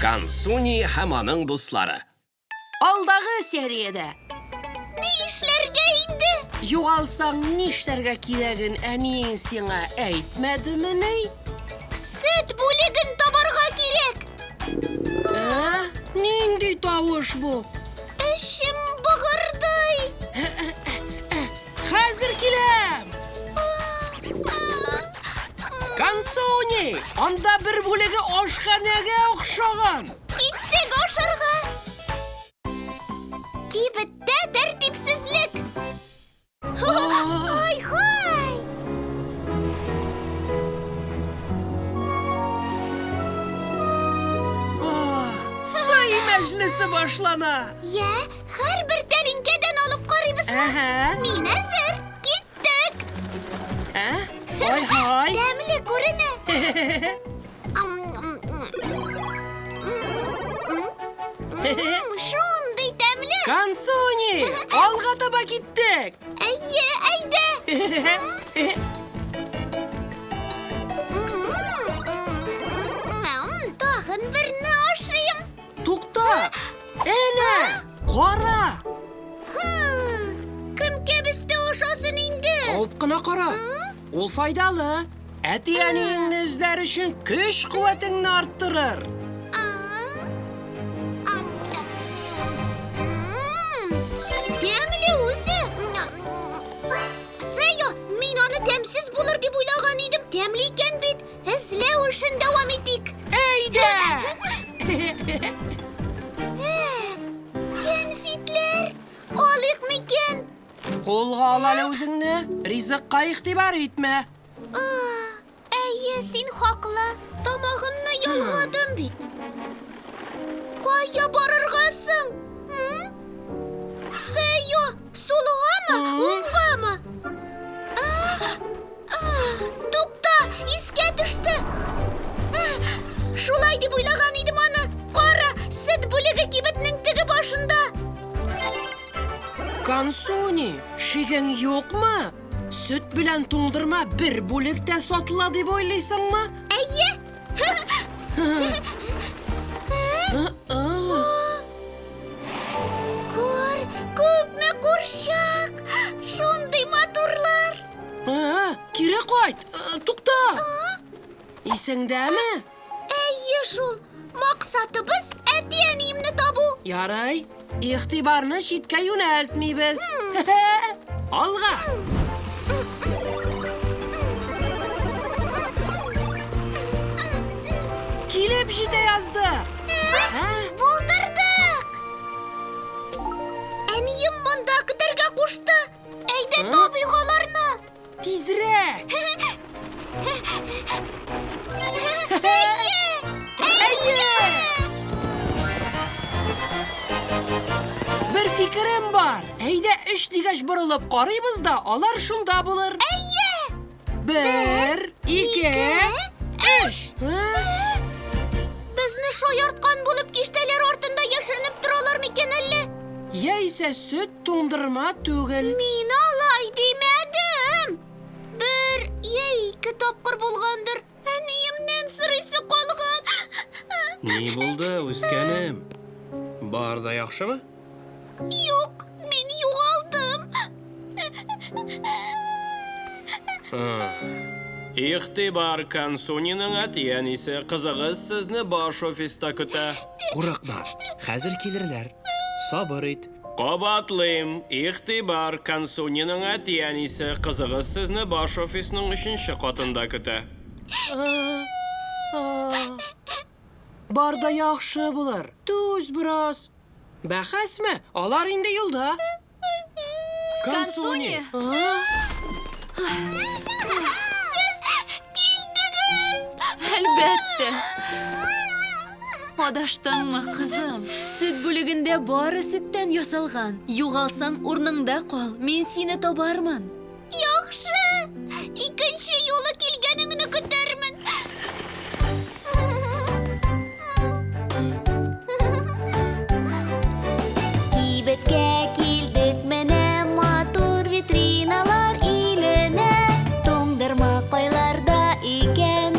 Кансуни һәм аның дуслары. Алдагы сериядә. Ни эшләргә инде? Югалсаң нишләргә кирәген әниең сиңа әйтмәдемени? Сөт бүлеген табарга кирәк. Ә? Нинди тавыш бу? Эчем быгырдый. Хәзер киләм! Консони! Анда бер бүлеге ашханәгә охшаган! Киттек ашарга! Кибеттә тәртипсезлек! Ай-һай! Сый мәҗлесе башлана! Йә, Һәрбер тәлинкәдән алып карыйбызмы? Әһә. Мин әзер. Киттек. Ә? Ай-һай. Тәмле күренә. Ам, м, м. М, м, м, Шундый тәмле. Кансуни! Алга таба киттек! Әйе, әйдә. М, м, м, м, м. Тагын берне ашыйм. Тукта! Әнә! Кара! Кем кәбестә ашасын инде? Алып кына кара. Ул файдалы. Әти-әниеңне эзләр өчен көч-куәтеңне арттырыр. Тәмле үзе. Сэйо, мин аны тәмсез булыр дип уйлаган идем. Тәмле икән бит. Эзләү эшен дәвам итик. Әйдә! Кәнфитләр алыйк микән? Кулга ал әле үзеңне, ризыкка игътибар итмә. Әйе, син хаклы. Тамагымны ялгадым бит. Кая барырга соң? М? Сэйо, сулгамы, уңгамы? Тукта, искә төште. Шулай дип уйлаган идем аны. Кара, сөт бүлеге кибетнең теге башында. Кансуни, шигең юкмы? Сөт белән туңдырма бер бүлектә сатыла дип уйлыйсыңмы? Әйе. Күр, күпме курчак! Шундый матурлар! А, кире кайт. Э, тукта. Исеңдәме? Әйе шул. Максатыбыз әти-әниемне табу. Ярай. Игътибарны читкә юнәлтмибез. Алга. Килеп җитә язды. Ә? Булдырдык! Әнием монда көтәргә кушты. Әйдә табыйк аларны! Тизрәк! Бер фикерем бар! Әйдә, өч дигәч борылып карыйбыз да, алар шунда булыр. Әйе! Бер, ике, өч! Безне шаярткан булып киштәләр артында яшеренеп торалар микән әллә? Яисә сөт туңдырма түгел. Мин алай димәдем. Бер я ике тапкыр булгандыр. Әниемнән сорыйсы калган. Ни булды, үскәнем? Бар да яхшымы? Юк, мин югалдым. Ихтибар Кансуниның әти-әнисе кызыгыз сезне баш офиста көтә. Курыкма, хәзер килерләр. Сабыр ит. Кабатлыйм, игътибар, Консуниның әти-әнисе, кызыгыз сезне баш офисның өченче катында көтә. Бар да яхшы булыр. Түз бераз. Бәхәсме? Алар инде юлда. Консуни! Сез килдегез! Әлбәттә! Адаштыңмы, кызым? Сөт бүлегендә бары сөттән ясалган. Югалсаң, урныңда кал, мин сине табармын. Яхшы! Икенче юлы килгәнеңне көтәрмен. Кибеткә килдек менә матур витриналар иленә. Туңдырма кайларда икән?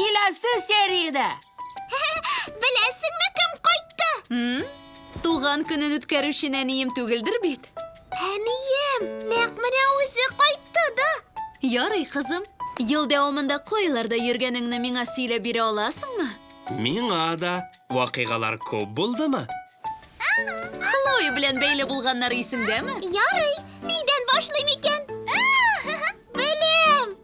Киләсе сериядә! Беләсеңме, кем кайтты? Туган көнен үткәрүче нәнием түгелдер бит? Әнием! Нәкъ менә үзе кайтты да! Ярый, кызым. Ел дәвамында кайларда йөргәнеңне миңа сөйләп бирә аласыңмы? Миңа да вакыйгалар күп булдымы? Хлоя белән бәйле булганнары исеңдәме? Ярый, нидән башлыйм икән? Беләм!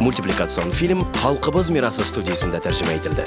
Мультипликацион фильм Халкыбыз мирасы студиясендә тәрҗемә ителде.